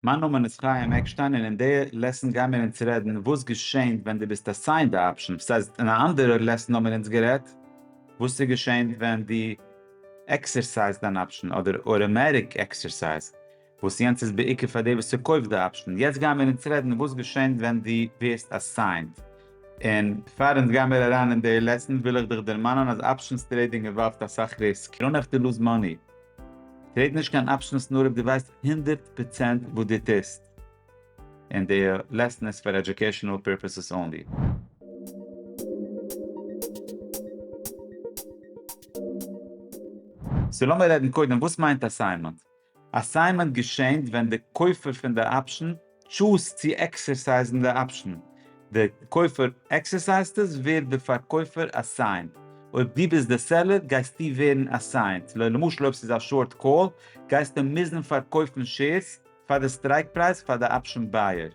מיין נאמען איז חיים עקשטיין און אין די לעסן גייען מיר אונז רעדן וואס געשענט ווען די ביסט אסיינד א אפשען, סאיז אין א אנדערע לעסן האמיר אונז גערעדט וואס סאיז געשענט ווען די עקסערסייזד אן אפשען אדער אוטאמעטיק עקסערסייז וואס יענץ איז בעיקר פאר די וואס ס'קויפט די אפשען, יעצט גייען מיר אונז רעדן וואס געשענט ווען די ווערסט אסיינד, און פאר אונז גייען מיר אריין אין די לעסן וויל איך דיך דערמאנען אז אפשענס טרעידינג אינוואלווט אסאך ריסק, יו נעוו טו לוז מאני. כ'רעד נישט קיין אפשענס נאר אויב דו ווייסט הונדערט פראצענט וואס דו טוסט און די לעסן איז פאר עדיוקעישאנעל פירפעסעס אנלי. סאו לאמיר רעדן קודם וואס מיינט אסיינמענט. אסיינמענט געשענט ווען די קויפער פון די אפשען טשוז צו עקסערסייזן די אפשן, די קויפער עקסערסייזט עס ווערט די פארקויפער אסיינט, אויב דו ביסט די סעלער גייסטו ווערן אסיינט, למשל אויב ס'איז א שארט קאל גייסטו מוזן פארקויפן שעירס פאר די סטרייק פרייז פאר די אפשן בייער,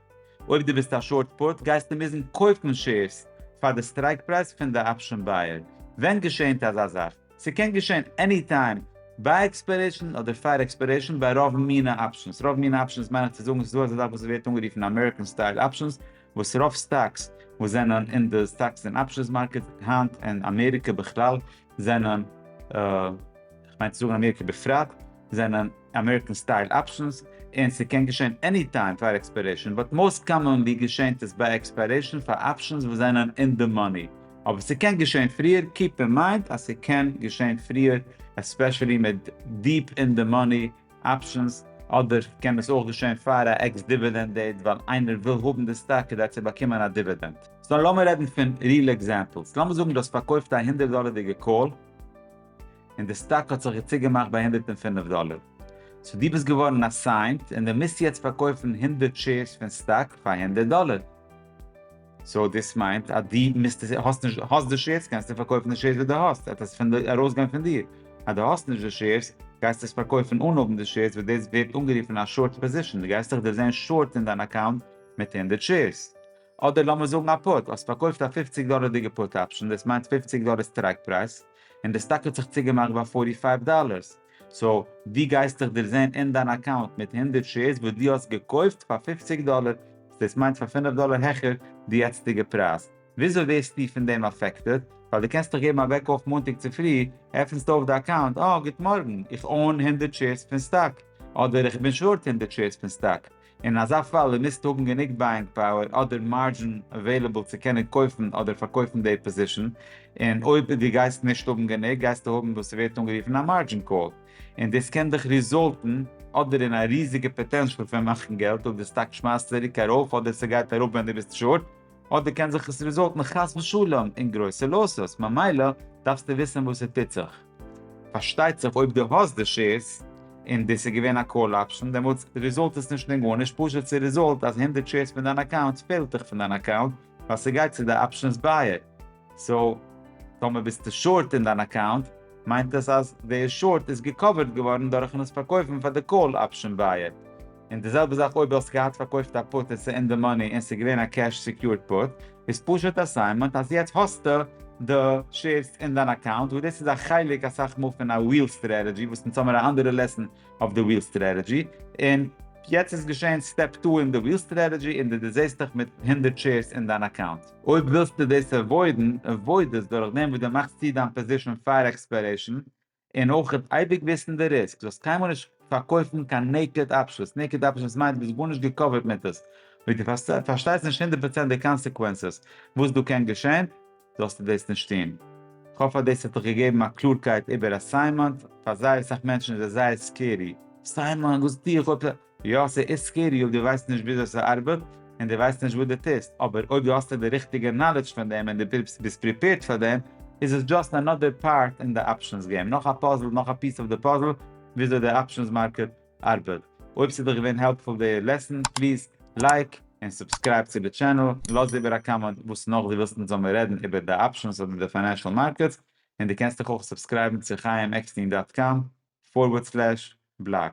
אויב דו ביסט א שארט פוט גייסטו מוזן קויפן שעירס פאר די סטרייק פרייז פון די אפשן בייער, ווען געשענט אזא זאך? ס'קען געשען עני טיים ביי עקספיירעישן אדער פאר עקספיירעישן ביי רוב מינע אפשענס, רוב מינע אפשענס מיין איך צו זאגן ס'איז דא אזא זאך וואס ס'ווערט אנגערופן אמעריקען סטייל אפשענס, וואס רוב סטאקס וואס זענען אין די סטאקס און אפשענס מארקעט היינט און אמעריקע בכלל זענען, כ'מיין צו זאגן אמעריקע בפרט, זענען. אמעריקען סטייל אפשענס, און ס'קען געשען עני טיים פאר עקספיירעישאן, באט מאוסט קאממאנלי געשענט עס ביי עקספיירעישאן פאר אפשענס וואס זענען אין די מאני, אבער ס'קען געשען פריער, קיעפ אין מיינד אז ס'קען געשען פריער עספעשעלי מיט דיעפ אין די מאני אפשענס, אדער קען עס אויך געשען פאר א עקס דיווידענד דעיט ווייל איינער וויל האבן די סטאק כדי צו באקומען א דיווידענד. סאו לאמיר רעדן פון ריעל עקזעמפלס, לאמיר זאגן דו האסט פארקויפט א הונדערט דאלערדיגע קאל, און די סטאק האט זיך צוגעמאכט ביי הונדערט און פֿינף דאלער, סאו דו ביסט געווארן אסיינט און דו מוזט יעצט פארקויפן הונדערט שעירס פון סטאק פאר הונדערט דאלער, סאו דאס מיינט אז דו מוזט עס, האסט נישט, האסט די שעירס קענסטו פארקויפן די שעירס וואס דו האסט, עט עס פון די, ארויסגיין פון דיר, אז דו האסט נישט די שעירס גייסטו עס פארקויפן אן האבן די שעירס וואס דאס ווערט אנגערופן א שארט פאזישאן, דו גייסט דיך דערזען שארט אין דיין אקאונט מיט הונדערט שעירס, אדער לאמיר זאגן א פוט, האסט פארקויפט א פופציג דאלערדיגע פוט אפשן, דאס מיינט פופציג דאלער סטרייק פרייז, און די סטאק האט זיך צוגעמאכט ביי פארטי פייוו דאלער, סאו דו גייסטעך דערזען אין דיין אקאונט מיט הונדערט שעירס וואס דו האסט געקויפט פאר פופציג דאלער, דאס מיינט פאר פינף דאלער העכער די יעצטיגע פרייז, וויאזוי ווערסטו פון דעם אפעקטעד, ווייל דו קענסט דאך געבן א וועק אויף מאנטאג צופרי, עפנסטו אויף די אקאונט, אה גוט מארגן, איך אוין הונדערט שעירס פון סטאק, אדער איך בין שארט הונדערט שעירס פון סטאק, אין אזא פאל איר מוזט האבן גענוג בייאינג פאוער אדער מארדזשין עוועילעבל צו קענען קויפן אדער פארקויפן די פאזישאן, און אויב די גייסט נישט האבן גענוג גייסטו האבן וואס ס'ווערט אנגערופן א מארדזשין קאל, און דאס קען דיך ריזאלטן אדער אין א ריזיגע פאטענשאל פון מאכן געלט אויב די סטאק שמייסט צוריק ארויף אדער ס'גייט אראפ ווען די ביסט שארט, אדער קען זיך עס ריזאלטן חס ושלום אין גרויסע לאסס, ממילא דארפסטו וויסן וואס ס'טוט זיך. פארשטייט זיך אויב דו האסט די שעירס און דאס איז געווען א קאל אפשן דעמאלטס ריזאלט עס נישט אין גארנישט פשוט ס'ריזאלט אז הונדערט שעירס פון דיין אקאונט פעלט דיך פון דיין אקאונט ווייל ס'גייט צו די אפשענס בייער סאו טאמער ביסטו שארט אין דיין אקאונט מיינט עס אז די שארט איז געקאווערט געווארן דורכן עס פארקויפן פאר די קאל אפשן בייער. און די זעלבע זאך אויב האסט געהאט פארקויפט א פוט און ס'איז אין די מאני און ס'איז געווען א קעש סעקיורד פוט איז פשוט א סימענט אז יעצט האסטו די שעירס אין דיין אקאונט וואס דאס איז א חלק אסאך מאל פון א וויל סטרעטעדזשי וואס אונז האמיר א אנדערע לעסן אויף די וויל סטרעטעדזשי און יעצט איז געשען סטעפ טו אין די וויל סטרעטעדזשי און די דערזעסט דיך מיט הונדערט שעירס אין דיין אקאונט. אויב ווילסטו דאס עוואוידן עוואויד עס דורך דעם וואס די מאכסט צו דיין פאזישן פאר עקספיירעישן און אויך אייביג וויסן די ריסק, דו זאלסט קיינמאל נישט פארקויפן קיין נעיקעד אפשענס, נעיקעד אפשענס מיינט דו ביסט גארנישט געקאווערט מיט עס, ווען דו פארשטייסט נישט הונדערט פראצענט די קאנסעקווענסעס וואס דא קען געשען, זאלסטו דאס נישט טון. כ'האף אז דאס האט דיך געגעבן א קלארקייט איבער אסיינמענט, פאר זייער אסאך מענטשן איז עס זייער סקערי. אסיינמענט? וואס טו איך אויב. יא ס'איז סקערי אויב דו ווייסט נישט וויאזוי ס'ארבעט און דו ווייסט נישט וואס דו טוסט, אבער אויב דו האסט די ריכטיגע נאלעדזש פון דעם און דו ביסט פריפעירד פאר דעם איז עס דזשאסט אנאדער פארט אין די אפשענס געים, נאך א פאזל, נאך א פיס אויף די פאזל וויאזוי די אפשענס מארקעט ארבעט. אויב ס'איז דיך געווען העלפפול די לעסן, פליז לייק און סובסקרייב צו די טשענעל, לאז איבער א קאמענט וואס נאך דו ווילסט אונז זאלמיר רעדן איבער די אפשענס אדער די פיינענשעל מארקעטס, און דו קענסט דיך אויך סובסקרייבן צו חיים עקסטין דאט קאם פארווערד סלעש בלאג.